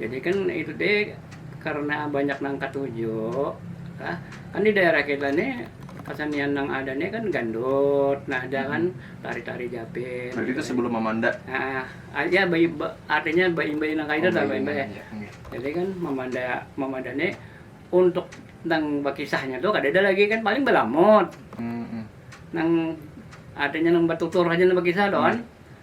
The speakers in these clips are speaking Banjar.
Jadi kan itu deh karena banyak nang katuju. Nah, kan di daerah kita nih kesenian nang ada nih kan gandut, nah ada kan tari-tari japit. Berarti itu sebelum Mamanda. Nah, ah, ya bayi, ba- artinya bayi-bayi nang kayak itu Oh, lah, bayi bayi-bayi. Mamanda, oke. Jadi kan memanda memanda nih untuk nang bakisahnya tuh kada ada lagi kan paling belamut. Mm-mm. nang artinya nang batutur aja nang bakisah doan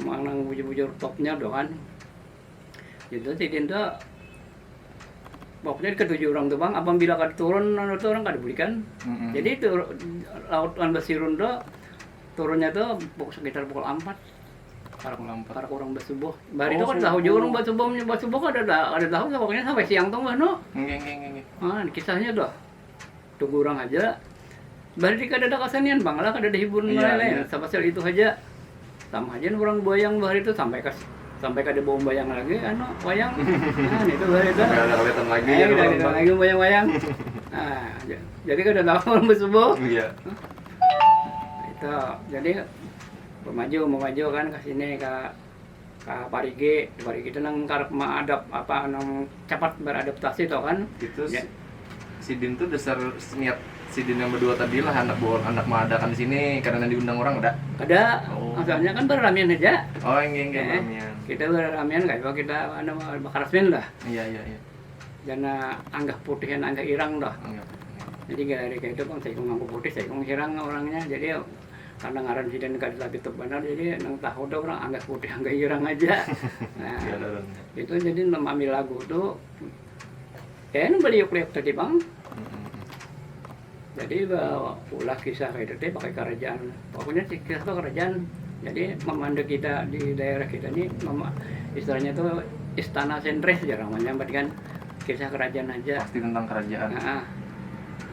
Manang bujur-bujur topnya tu kan. Itu sidin tu pokoknya ketujuh orang tu bang apabila kada turun anu tu orang kada bulikan mm-hmm. jadi itu laut kan basirun tu turunnya tu sekitar pukul empat para kurang para kurang bersubuh bari itu oh, kan tahu juga orang bersubuh bersubuh kan ada ada tahu pokoknya sampai siang tuh nggak nu kisahnya tuh Tugu urang haja. Bariri kadada kasanian pang lah, kadada hiburan lain-lain. Sapasial itu haja. Sama haja wan urang buwayang bahari tu sampai ka sampai kada baumbayang lagi anu wayang. Nah nitu bahari tu. Kada kawitan lagi jar urang tu. Kada kawitan lagi umbayang wayang. Jadi kada tahu urang basubuh. Itu, jadi bamaju mamaju kan ka sini ka. ka parigi, di parigi tu nang karap maadap apa nang capat beradaptasi tu kan. Itu ya. sidin tu dasar niat sidin yang berdua tadi lah anak bawa anak mengadakan di sini karena diundang orang ada. Ada, oh. asalnya kan beramian aja. Oh, enggak enggak eh, beramian. Kita beramian kayak apa kita anu bakarasmin dah. Iya iya iya. Jana anggah putih dan anggah irang dah. Anggah. Jadi dari kayak itu kan saya kong putih, saya kong irang orangnya. Jadi karena ngaran sidin kada lagi tu banar jadi nang tahu tu orang anggas putih anggai irang haja itu jadi ambil lagu tu ya ini baliuk liuk tadi bang jadi ulah kisah itu tadi pakai kerajaan pokoknya kisah tu kerajaan jadi memanda kita di daerah kita ni istilahnya tu istana sentris jar orang menyambat kan kisah kerajaan haja pasti tentang kerajaan.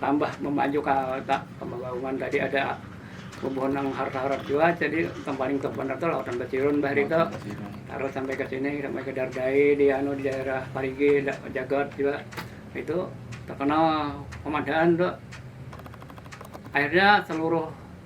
Tambah memajuk ka tak pemagaungan tadi ada bubuhan nang harap-harap jua jadi nang paling top banar tu laut Ambacirun bah hari tu tarus sampai ka sini sampai ka Dardai di anu di daerah Parigi Jagot jua itu terkenal pemandangan tu akhirnya seluruh.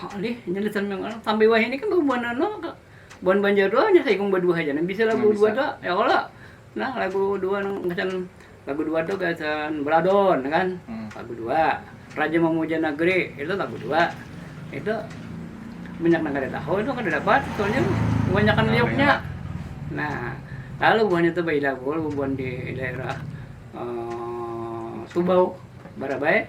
Alih, nya lisan yang anak. Sampai wahai ini kan buan anu, buan banjar doa hanya saikung berdua aja. Nah, bisa lagu dua doa, ya Allah. Nah, lagu dua nang macam lagu dua tuh gasan beladon kan. Hmm. Lagu dua. Raja memuja negeri itu lagu dua. Itu banyak nang kada tahu itu kada dapat soalnya kebanyakan nah, liuknya. Nah, lalu buan itu bayi lagu, buan di daerah uh, Subau, Barabai,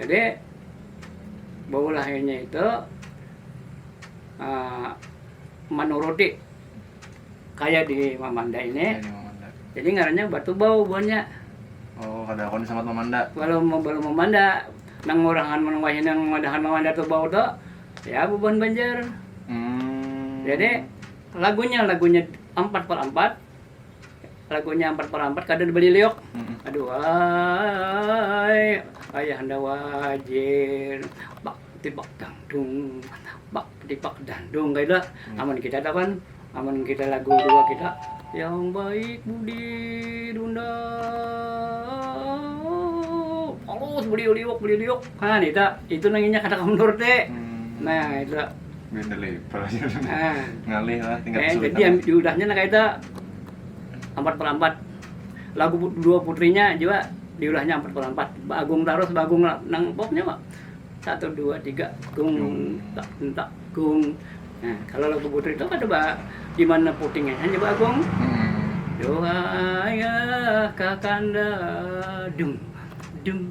Jadi baulah inya itu manuruti kaya di Mamanda ini jadi ngarannya Batu Bau buhannya. Oh kada kawan disambat Mamanda. Balum balum Mamanda nang urang amun wahini nang madahakan Mamanda tu Bau tu ya bubuhan Banjar. Jadi lagunya lagunya Ampat per Ampat. Lagunya ampat barampat kada ada baliliuk. Aduhai ayahanda wajir bak tibak dangdung bak tibak dandung kaitu amun kita tu kan amun kita lagu dua kita yang baik budi dunda halus baliliuk baliliuk ha nita itu nang inya kada kawa manurti nah itu. Benda leper aja. Ah. Ngalih lah tingkat eh, kesulitan. Jadi ambil udahnya nah kaita ampat per ampat. Lagu dua putrinya juga diulahnya ampat per ampat. Bagung terus bagung nang popnya pak. Satu dua tiga gung tak tak gung. Nah, kalau lagu putri itu kada pak di mana putingnya hanya bagung. Hmm. Doa ya kakanda dum dum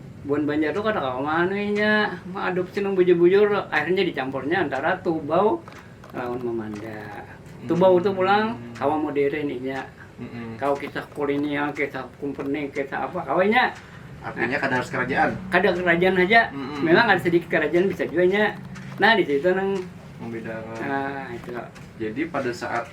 Buhan Banjar tu kada kawa maanui inya, maadupsi nang bujur-bujur, akhirnya dicampurnya antara Tubau lawan Mamanda. Tubau tu pulang kawa modern inya, kawa kisah kolinial, kisah kumpeni, kisah apa, kawa inya. Artinya kada harus kerajaan. Kada kerajaan haja, memang ada sedikit kerajaan bisa jua inya. Nah di situ nang. Membedakan. Nah itu. Jadi pada saat.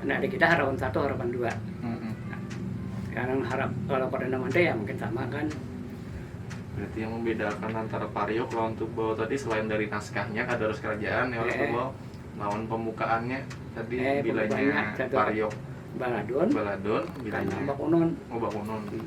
Nah, di kita harapan satu, harapan dua. Mm -hmm. Karena harap kalau perdana menteri ya mungkin sama kan. Berarti yang membedakan antara Pariok lawan Tubal tadi selain dari naskahnya kadarus kerajaan ya eh. Tubal lawan pembukaannya tadi eh, bilanya Pariok baladun baladun bilanya bakunon oh bakunon hmm.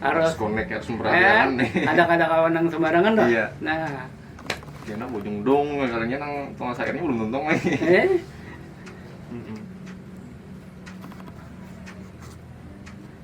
harus connect harus memperhatikan eh, nih ada kada kawan yang sembarangan dah iya. nah ya nang bujung dong kalinya nang tukang sayurnya belum tuntung lagi eh?